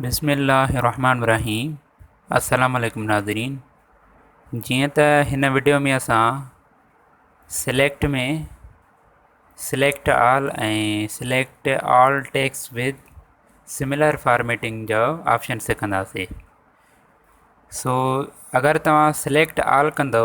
بسم الله الرحمٰن الرحيم السلام عليڪم ناظرين جيئن ته هن وڊيو ۾ اسان select ۾ select all ۽ select all text with similar formatting جو آپشن سکنداسي سو اگر توهان سليڪٽ آل ڪندو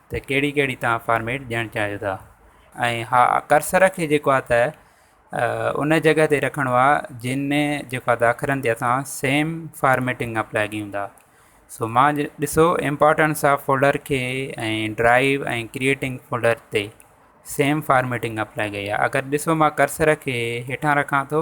ته ڪهڙي ڪهڙي تهان فارميٽ ڏيڻ چاهيو ٿا ۽ ها ڪرسر کي جيڪو آهي ته ان جڳهه تي رکڻو آهي جن ۾ جيڪو آهي ته اکرن تي اسان سيم فارميٽنگ اپلائي ڪيون ٿا سو ماء ڏسو امپارٽنس آف فولڊر کي ۽ ڊرائيو ۽ ڪريئيٽنگ فولڊر تي سيم فارميٽنگ اپلائي ڪئي آهي اگر ڏسو ماء ڪرسر کي هيٺان رکان ٿو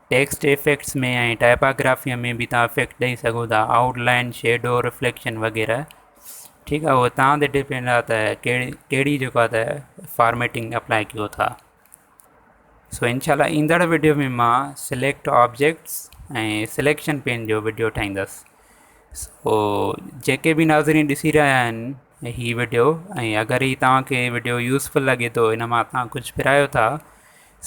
ٽيڪسٽ ايفيڪٽس ۾ ۽ ٽائپاگرافيء ۾ به تان افيڪٽ ڏئي سگهو ٿا، آئوٽ لائن، شيڊو، رفليڪشن وغيره. ٺيڪ آهي اهو توهان تي ڊپينڊ آهي ته ڪهڙي ڪهڙي جيڪو آهي ته فارميٽنگ اپلائي ڪيو ٿا. سو انشاء الله ايندڙ ويڊيو ۾ مان سليڪٽ آبجيڪٽس ۽ سليڪشن پين جو ويڊيو ٺاهيندس. سو جيڪي به ناظرين ڏسي رهيا آهن هي ويڊيو ۽ اگر هي توهان کي ويڊيو يوزفل لڳي ٿو ان مان توهان ڪجهه پرايو ٿا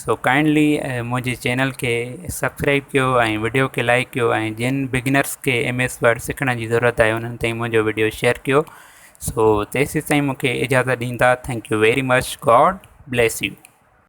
سو ڪائنڊلي منهنجي چينل کي سبسڪرائب ڪيو ۽ وڊيو کي لائڪ ڪيو ۽ جن بگنرس کي ايم ايس ورڊ سکڻ جي ضرورت آهي انهن تائين منهنجو وڊيو شيئر ڪيو سو تيسيتائين مونکي اجازت ڏيندا thank you very much God bless U